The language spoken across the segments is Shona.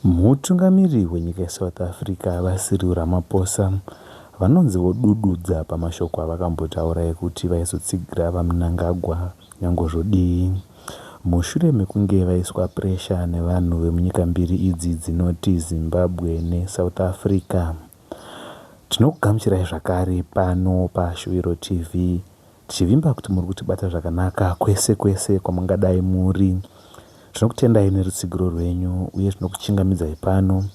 Mutungamiri wenyika yeSouth Africa, VaCyril Ramaphosa, vanonzi vodududza pamashoko avakambotaura ekuti vaizotsigira VaMnangagwa nyangwe zvodii mushure mekunge vaiswa puresha nevanhu vemunyika mbiri idzi dzinoti Zimbabwe neSouth Africa. Tinokugamuchirai zvakare pano paShuviro TV. Tichivimba kuti muri kutibata zvakanaka kwese kwese kwamungadai muri. Tinokutendai nerutsigiro rwenyu uye tinokuchingamidzai pano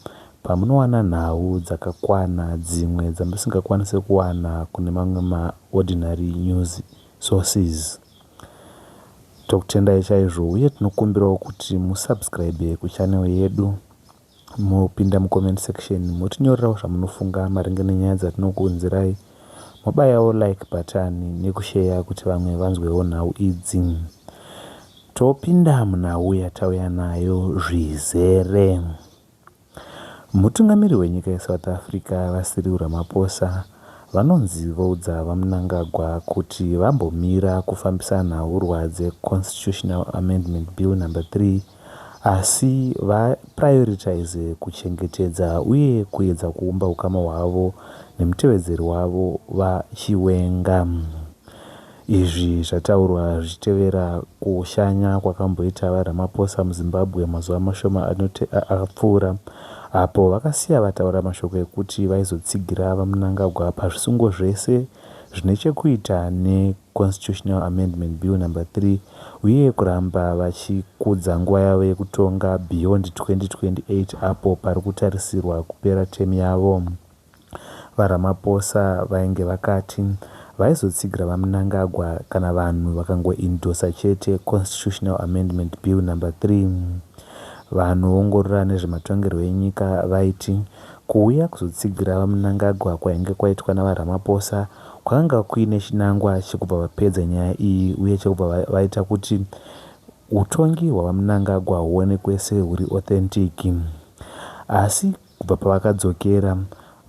pamunowana nhau dzakakwana dzimwe dzamusingakwanise kuwana kune mamwe maordinary news sources. Tokutendai chaizvo uye tinokumbirawo kuti musubscribe kuchannel yedu. Mopinda mucomment section motinyorerawo zvamunofunga maringe nenyaya dzatinokuunzirai mobayawo like button nekusheya kuti vamwe vanzwewo nhau idzi topinda munhau yatauya nayo zvizere mutungamiri wenyika yesouth africa vasiriu ramaposa vanonzi voudza vamunangagwa kuti vambomira kufambisa nhaurwa dzeconstitutional amendment bill number 3 Asi va prioritize kuchengetedza uye kuedza kuumba ukama hwavo nemutevedzeri wavo Va Chiwenga. Izvi zvataurwa zvichitevera kushanya kwakamboita Va Ramaphosa muZimbabwe mazuva mashoma apfuura apo vakasiya vataura mashoko ekuti vaizotsigira Va Mnangagwa pazvisungo zvese zvine chekuita ne Constitutional Amendment Bill Number 3, uye kuramba vachikudza nguva yavo yekutonga beyond 2028 apo pari kutarisirwa kupera term yavo. VaRamaphosa vainge vakati vaizotsigira VaMnangagwa kana vanhu vakangoindosa chete Constitutional Amendment Bill Number 3. Vanoongorora nezvematongerwo enyika vaiti kuuya kuzotsigira VaMnangagwa kwainge kwaitwa naVaRamaphosa Kwakanga kuine chinangwa chekubva vapedza nyaya iyi uye chekubva vaita kuti utongi hwaVaMnangagwa huonekwe sehuri authentic. Asi kubva pavakadzokera,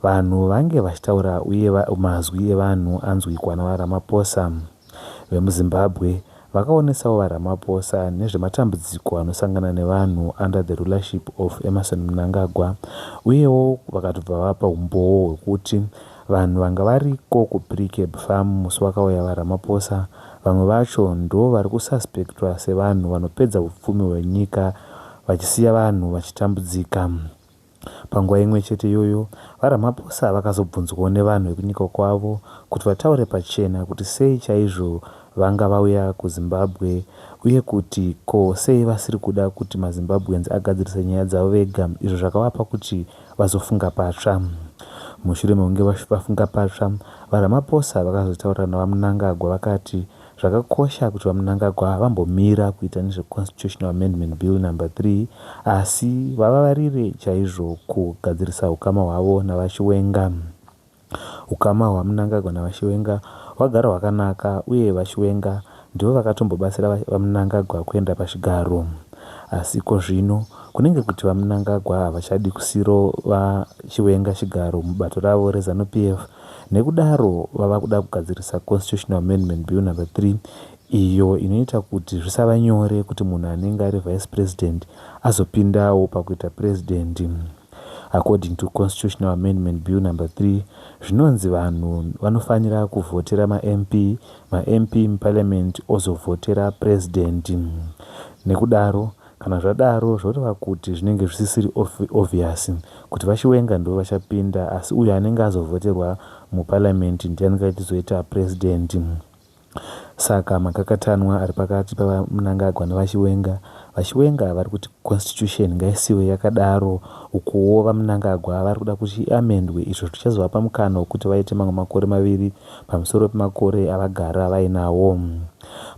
vanhu vange vachitaura uye mazwi evanhu anzwikwa naVaRamaphosa. VemuZimbabwe vakaonesawo VaRamaphosa nezvematambudziko anosangana nevanhu under the rulership of Emmerson Mnangagwa uyewo vakatobva vapa humbowo hwekuti vanhu vanga variko kuPreecab Farm musi wakauya VaRamaphosa vamwe vacho ndo vari kususpectwa sevanhu vanopedza hupfumi hwenyika vachisiya vanhu vachitambudzika. Panguva imwe chete iyoyo, VaRamaphosa vakazobvunzwawo nevanhu vekunyika kwavo kuti vataure pachena kuti sei chaizvo vanga vauya kuZimbabwe uye kuti ko sei vasiri kuda kuti maZimbabweans agadzirise nyaya dzavo vega izvo zvakavapa kuti vazofunga patsva. Mushure mekunge vafunga patsva, VaRamaphosa vakazotaura naVaMnangagwa vakati Zvakakosha kuti VaMnangagwa vambomira kuita nezveConstitutional Amendment Bill Number 3 asi vavavarire chaizvo kugadzirisa hukama hwavo naVaChiwenga. Hukama hwaMnangagwa naVaChiwenga hwagara hwakanaka uye VaChiwenga ndivo vakatombobatsira VaMnangagwa kuenda pachigaro. Asi ko zvino kunenge kuti VaMnangagwa havachadi kusiro VaChiwenga chigaro mubato ravo reZanu PF Nekudaro vava kuda kugadzirisa Constitutional Amendment Bill Number 3 iyo inoita kuti zvisava nyore kuti munhu anenge ari Vice President azopindawo pakuita President. According to Constitutional Amendment Bill Number 3, zvinonzi vanhu vanofanira kuvhotera maMP, maMP muParliament ozovhotera President. Nekudaro, Kana zvadaro zvoreva kuti zvinenge zvisisiri obvious kuti vaChiwenga ndivo vachapinda asi uyo anenge azovhoterwa muparliament ndiye anenge achizoita president. Saka makakatanwa ari pakati paVaMnangagwa nevaChiwenga. VaChiwenga vari kuti constitution ngaisiwe yakadaro ukuwo VaMnangagwa vari kuda kuti iamendwe izvo zvichazovapa mukana wekuti vaite mamwe makore maviri pamusoro pemakore avagara vainawo.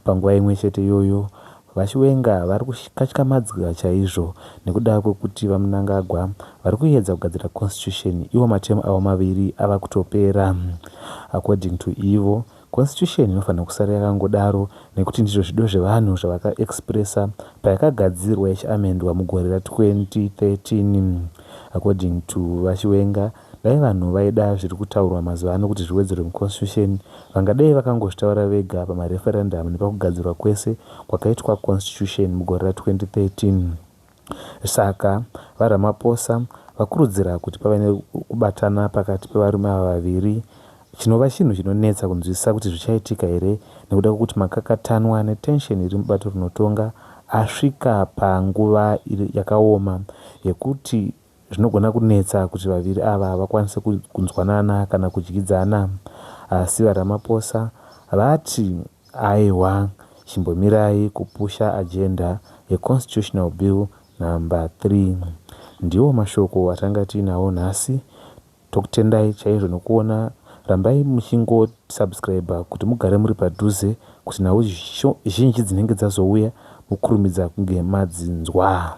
Panguva imwe chete iyoyo VaChiwenga vari kukatyamadzwa chaizvo nekuda kwekuti VaMnangagwa vari kuyedza kugadzira constitution iwo materm avo maviri ava kutopera. According to ivo, constitution inofanirwa kusara yakangodaro nekuti ndizvo zvido zvevanhu zvavaka expresser payakagadzirwa ichiamendwa mugore ra 2013. According to VaChiwenga, Dai vanhu vaida zviri kutaurwa mazuva ano kuti zviwedzerwe muConstitution vangadai vakangozvitaura vega pamareferendum nepakugadzirwa kwese kwakaitwa Constitution mugore ra 2013. Saka VaRamaphosa vakurudzira kuti pave nekubatana pakati pevarume ava vaviri chinova chinhu chinonetsa kunzwisisa kuti zvichaitika here nekuda kwekuti makakatanwa netension iri mubato rinotonga asvika panguva yakaoma yekuti Zvinogona kunetsa kuti vaviri ava vakwanise kunzwanana kana kudyidzana asi VaRamaphosa vati aewa chimbomirai kupusha agenda yeConstitutional Bill number 3. Ndiwo mashoko atanga tiinawo nhasi. Tokutendai chaizvo nokuona rambai muchingo subscriber kuti mugare muri padhuze kuti nhau zhinji dzinenge dzazouya mukurumidza kunge madzinzwa.